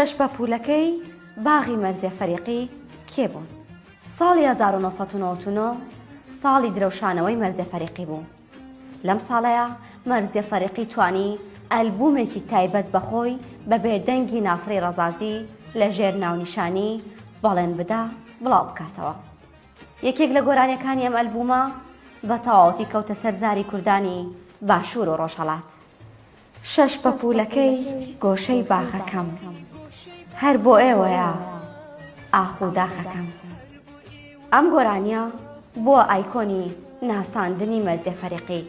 کەشپە پولەکەی باغی مەرزێ فەریقی کێ بوون؟ ساڵی هەزار و نۆ سەد و نەوەد و نۆ ساڵی درەوشانەوەی مەرزێ فەریقی بوو. لەم ساڵەیە مەرزێ فەریقی توانی ئەلبوومێکی تایبەت بە خۆی بە بێ دەنگی ناسڕی ڕەزازی لە ژێر ناونیشانی بەڵێن بدە بڵاو بکاتەوە. یەکێک لە گۆرانیەکانی ئەم ئەلبوومە بە تەواوەتی کەوتە سەر زاری کوردانی باشوور و ڕۆژهەڵات. شەش پەپوولەکەی گۆشەی باخەکەم. هەر بۆ ئێوەیە ئاخ و داخەکەم. ئەم گۆرانیە بووە ئایکۆنی ناساندنی مەرزیە فەریقی،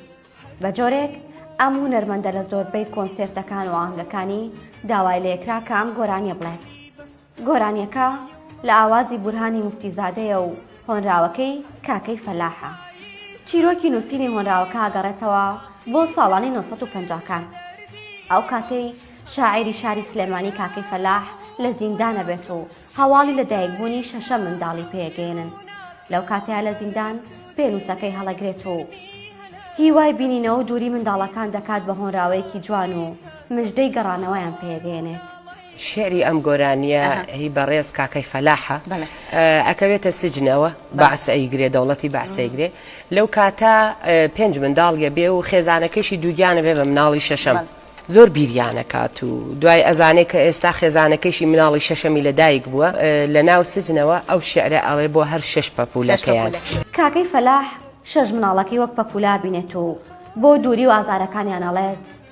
بە جۆرێک ئەم هونەرمەندە لە زۆربەی کۆنسێرتەکان و ئاهەنگەکانی داوای لێکرا کە ئەم گۆرانیە بڵێت. گۆرانیەکە لە ئاوازی بورهانی موفتیزادەیە و هۆنراوەکەی کاکەی فەلاحە. چیرۆکی نووسینی هۆنراوەکە ئەگەڕێتەوە بۆ ساڵانی نۆ سەد و پەنجا کان. ئەو کاتەی شاعیری شاری سلێمانی کاکەی فەلاح لە زیندان ئەبێت و هەواڵی لە دایک بوونی شەشەم منداڵی پێ ئەگەیەنن. لەو کاتەیا لە زیندان پێنووسەکەی هەڵەگرێت و هیوای بینینەوە و دووری منداڵەکان دەکات بە هۆنراوەیەکی جوان و مژدەی گەڕانەوەیان پێ ئەگەیەنێت. شیعری ئەم گۆرانیە هی بەڕێز کاکەی فەلاحە ئەکەوێتە سجنەوە بەعس ئەیگرێ دەوڵەتی بەعس ئەیگرێ لەو کاتە پێنج منداڵیە بێ و خێزانەکەیشی دووگیانە بێ بە مناڵی شەشەم زۆر بیریانەکات و دوای ئەزانێ کە ئێستا خێزانەکەیشی مناڵی شەشەمی لە دایک بووە لە ناو سجنەوە ئەو شیعرە ئەڵێ بۆ هەر شەش پەپولەکەیان. کاکەی فەلاح شەش مناڵەکەی وەک پەپوولە ئەبینێت و بۆ دووری و ئازارەکانیان ئەڵێت.